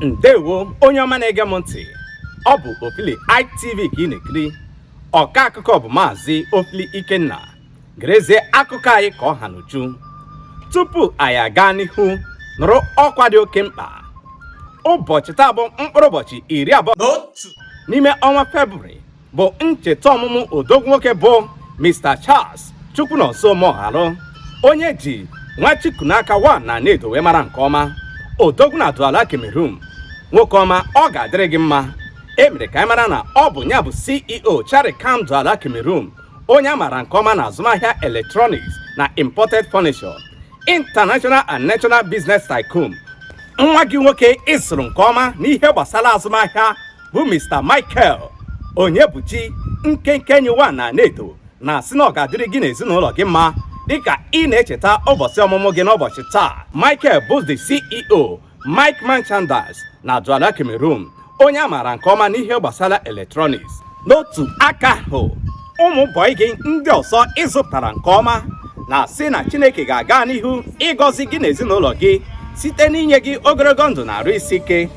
ndewo onye ọma na-ege m ntị ọ bụ ofili itv ka ị na-ekiri ọka akụkọ bụ maazị ofili ikenna gerezie akụkọ anyị ka ọ ha n'uju tupu anyị aga n'ihu nụrụ ọkwa dị oke mkpa ụbọchị taa bụ mkpụrụ ụbọchị iri abụọ na otu n'ime ọnwa febrụwarị bụ ncheta ọmụmụ odogwu nwoke bụ Mr. Charles Chukwunonso Moghalu onye e ji Nwachukwunaka one na Anaedo wee mara nke ọma odogwu na Douala Cameroon nwoke ọma ọ ga-adịrị gị mma e mere ka anyị mara na ọ bụ ya bụ CEO Charikam Douala Cameroon onye a maara nke ọma na azụmahịa electronics na imported furniture international and national business tycoon nwa gị nwoke ị zụrụ nke ọma n'ihe gbasara azụmahịa bụ Mr. Michael Onyebuchi Nkenke Enyi one na Anaedo na-asị na ọ ga-adịrị gị n'ezinụlọ gị mma dịka ị na-echeta ụbọchị ọmụmụ gị n'ụbọchị taa Michael bụ the CEO Mike Merchandise na Douala Cameroon onye a maara nke ọma n'ihe gbasara electronics n'otu aka ahụ ụmụ bọị gị ndị ọzọ ị zụpụtara nke ọma na-asị na Chineke ga-aga n'ihu ịgọzi gị n'ezinụlọ gị site n'inye gị ogologo ndụ na arụ isi ike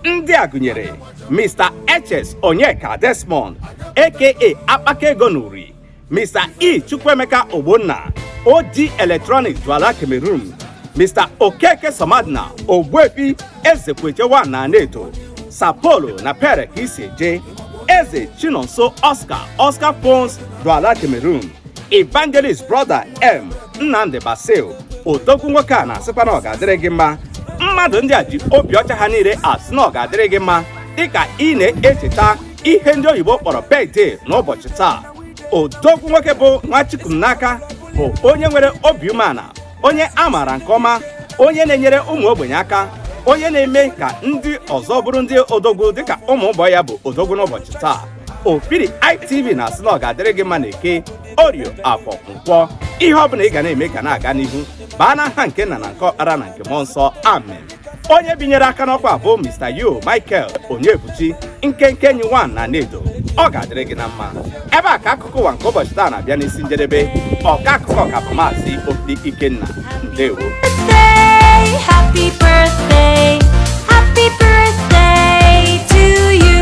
ndị a gụnyere Mr. Eches Onyeka Desmond aka Akpaka Ego n'Uri Mr. E Chukwuemeka Ogbonna OG Electronics Douala Cameroon Mr. Okeke Somadina Ogbuefi Ezekweche one na Anaedo Sapolo na Pere ka isi eje Eze Chinonso Oscar Oscar Phones Douala Cameroon Evangelist Brother M Nnamdi Basil odogwu nwoke a na-asịkwa na ọ ga-adịrị gị mma mmadụ ndị a ji obi ọcha ha niile asị na ọ ga-adịrị gị mma dịka ị na-echeta ihe ndị oyibo kpọrọ birthday n'ụbọchị taa odogwu nwoke bụ Nwachukwunaka bụ onye nwere obi umeala onye a maara nke ọma onye na-enyere ụmụ ogbenye aka onye na-eme ka ndị ọzọ bụrụ ndị odogwu dịka ụmụ bọị ya bụ odogwu n'ụbọchị taa ofili itv na-asị na ọ ga-adịrị gị mma na eke orio afọ nkwọ ihe ọ bụla ị ga na-eme ga na-aga n'ihu baa n'aha nke nna na nke ọkpara na nke mmụọ nsọ amen onye binyere aka n'ọkwa bụ Mr. U Michael Onyebuchi Nkenke Enyi one na Anaedo ọ ga-adịrị gị na mma ebe a ka akụkọ ụwa nke ụbọchị taa na-abịa n'isi njedebe ọka akụkọ ka bụ maazị Ofili Ikenna ndewo Happy birthday, happy birthday to you.